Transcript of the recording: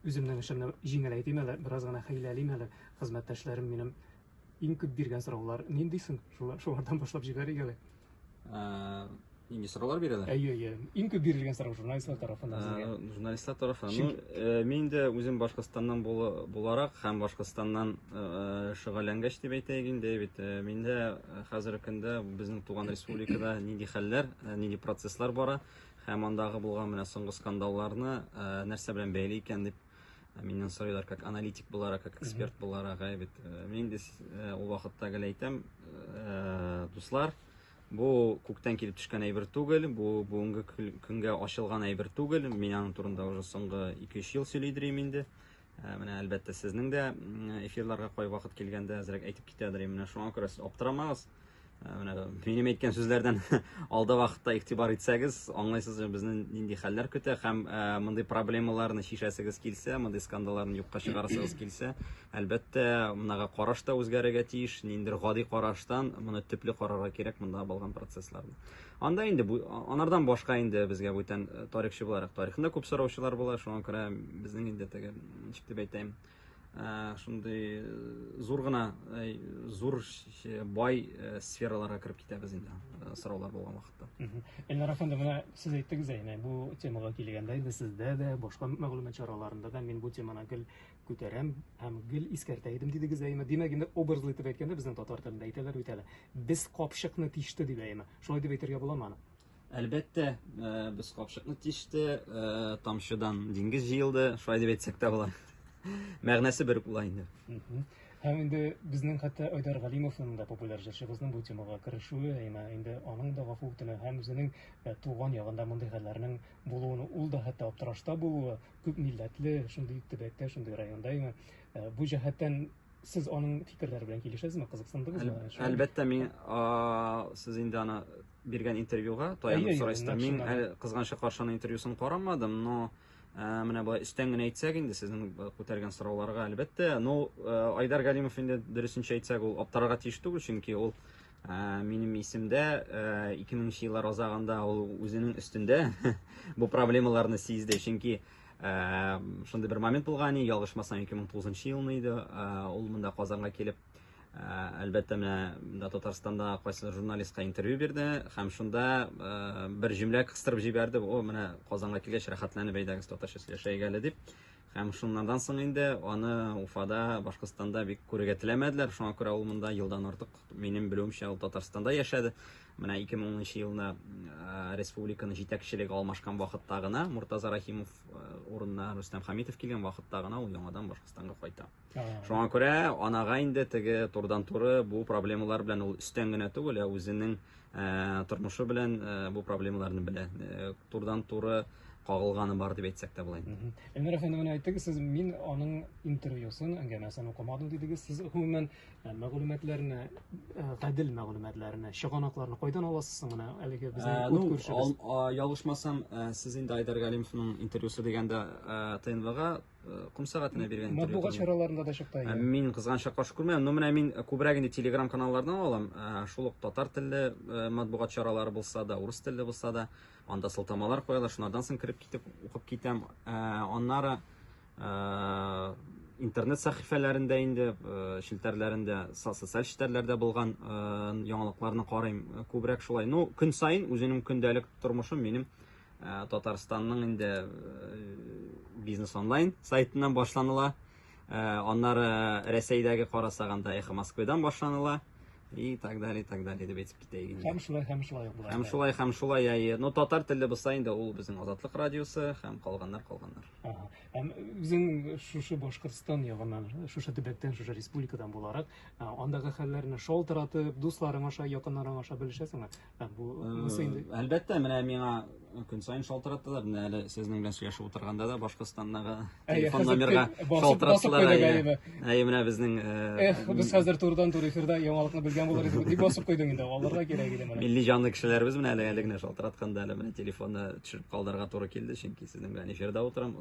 Үземнең эшемне җиңеләйтим әле, бераз гына хәйләлим әле. Хезмәттәшләрем минем иң күп биргән сораулар нинди соң? Шулардан башлап җибәрик әле. Э, нинди сораулар бирәләр? Әйе, әйе. Иң күп бирелгән сорау журналистлар тарафыннан сезгә. Э, журналистлар тарафыннан. Ну, э, мин дә үзем Башкортстаннан буларак һәм Башкортстаннан шөгыльләнгәч дип әйтәйек инде, бит миндә хәзерге көндә безнең туган республикада нинди хәлләр, нинди процесслар бара, Һәм андагы булган менә соңгы скандалларны э, нәрсә белән бәйле икән дип э, миннән сорыйлар, как аналитик буларак, как эксперт буларак, ә бит. Э, мин инде ул вакытта гел әйтәм, дуслар, бу күктән килеп төшкән әйбер түгел, бу бүгенге көнгә ачылган әйбер түгел. Мин аның турында уже соңгы 2-3 ел сөйлидерим инде. Ә, менә әлбәттә сезнең дә эфирларга кай вакыт килгәндә әзрәк әйтеп китәдер и менә шуңа күрә сез аптырамагыз ә, менә минем әйткән сүзләрдән алда вакытта игътибар итсәгез аңлайсыз безне нинди хәлләр көтә һәм ә, мондый проблемаларны чишәсегез килсә мондый скандалларны юкка чыгарасыгыз килсә әлбәттә монага караш та үзгәрергә тиеш ниндидер гади караштан моны төпле карарга кирәк монда булган процессларны Анда инде бу анардан башка инде безгә бүтән э, тарихчы буларак тарихында күп сораучылар була, шуңа күрә безнең инде теге ничек дип әйтәм, э, шундый э, зур гына зур бай сфераларга кереп китәбез инде сораулар булган вакытта. Эльнара ханым, менә сез әйттегез әйне, бу темага килгәндә инде сездә дә, башка мәгълүмат чараларында да мин бу теманы гел Күтәрәм һәм гел искәртә идем, дидегез әйеме? Димәк, инде образлы итеп әйткәндә, безнең татар телендә әйтәләр бит әле. Без капчыкны тиште дип әйеме? Шулай дип әйтергә буламы аны? Әлбәттә, э, без капчыкны тиште, э, тамчыдан диңгез җыелды, шулай дип әйтсәк тә була. Мәгънәсе бер була инде. Һәм инде безнең хәтта Айдар Галимовның да популяр җырчыбызның бу темага керешүе, әмма инде аның да гафу үтенә һәм үзенең э, туган ягында мондый хәлләрнең булуын ул да хәтта аптырашта булуы, күп милләтле, шундый төбәктә, шундый районда яңа. Э, бу җәһәттән сез аның фикерләре белән килешәсезме? Кызыксындыгызмы? Әлбәттә, мин сез инде аны биргән интервьюга таянып сорайсыз. Мин әле кызганча каршының интервьюсын карамадым, но э, менә болай өстән генә әйтсәк инде сезнең э, күтәргән сорауларга әлбәттә, но Айдар Галимов инде дөресенчә әйтсәк, ул аптырарга тиеш түгел, чөнки ул Ә, минем исемдә 2000 э, еллар азагында ул үзенең өстендә бу проблемаларны сизде, чөнки ә, шундый бер момент булган, ялгышмасам 2009 елны иде, ә, ул монда Казанга килеп әлбәттә менә да Татарстанда кайсы журналистка интервью бирде һәм шунда бер җөмлә кыстырып җибәрде, о, менә Казанга килгәч рәхәтләнеп әйдәгез татарча сөйләшәйгә әле дип. Һәм шуннардан соң инде аны Уфада, Башкортстанда бик күрергә теләмәделәр. Шуңа күрә ул монда елдан артык, минем белүемчә, ул Татарстанда яшәде. Менә 2010 елны э, республиканы җитәкчелеге алмашкан вакытта гына Муртаза Рахимов э, урынына Рустам Хамитов килгән вакытта гына ул яңадан Башкортстанга кайта. Шуңа күрә анага инде теге турыдан-туры бу проблемалар белән ул өстән генә түгел, ә үзенең э, тормышы белән э, бу проблемаларны белә. Э, турыдан-туры кагылганы бар дип әйтсәк тә була инде. Эльмира ханым, менә әйттегез, сез мин аның интервьюсын, әңгәмәсен укымадым дидегез. Сез гомумән мәгълүматларны, гадел мәгълүматларны, чыганакларны кайдан аласыз соң менә әлеге безнең үт күршебез? Ялгышмасам, сез инде Айдар Галимовның интервьюсы дигәндә ТНВга Э, ком сәгатенә биргән матбугат чараларында да чыкты ә, мин кызганычка каршы күрмәдем но менә мин э, күбрәк инде телеграм каналлардан алам ә, э, шул ук татар телле матбугат чаралары булса да урыс телле булса да анда сылтамалар куялар шунардан соң кереп китеп укып китәм ә, аннары ә, интернет сәхифәләрендә инде ә, челтәрләрендә социаль челтәрләрдә булган ә, яңалыкларны карыйм күбрәк шулай ну көн саен үзенең көндәлек тормышым минем Ә, Татарстанның инде э, бизнес онлайн сайтыннан башланыла. Ә, Аннары Рәсәйдәге карасаганда Эхо Москвадан башланыла. И так далее, и так далее дип әйтеп китәйек инде. Һәм шулай, һәм шулай була. Һәм шулай, һәм шулай, әйе. Ну, татар телле булса инде ул безнең Азатлык радиосы һәм калганнар, калганнар. Ага. Һәм үзең шушы Башкортстан ягыннан, шушы төбәктән, шушы республикадан буларак, а, андагы хәлләрне шалтыратып, дусларың аша, якыннарың аша белешәсеңме? Әлбәттә, менә миңа көн сайын шалтыраталар. Менә әле сезнең белән сөйләшеп утырганда да Башкортстандагы телефон номерга шалтыраталар. Әйе, менә безнең Эх, без хәзер турыдан-туры эфирда яңалыкны белгән булыр идек. Дип басып куйдым инде. Аларга кирәк иде менә. Милли җанлы кешеләребез менә әле генә шалтыратканда әле менә телефонны төшереп калдырырга туры килде, чөнки сезнең белән эфирда утырам.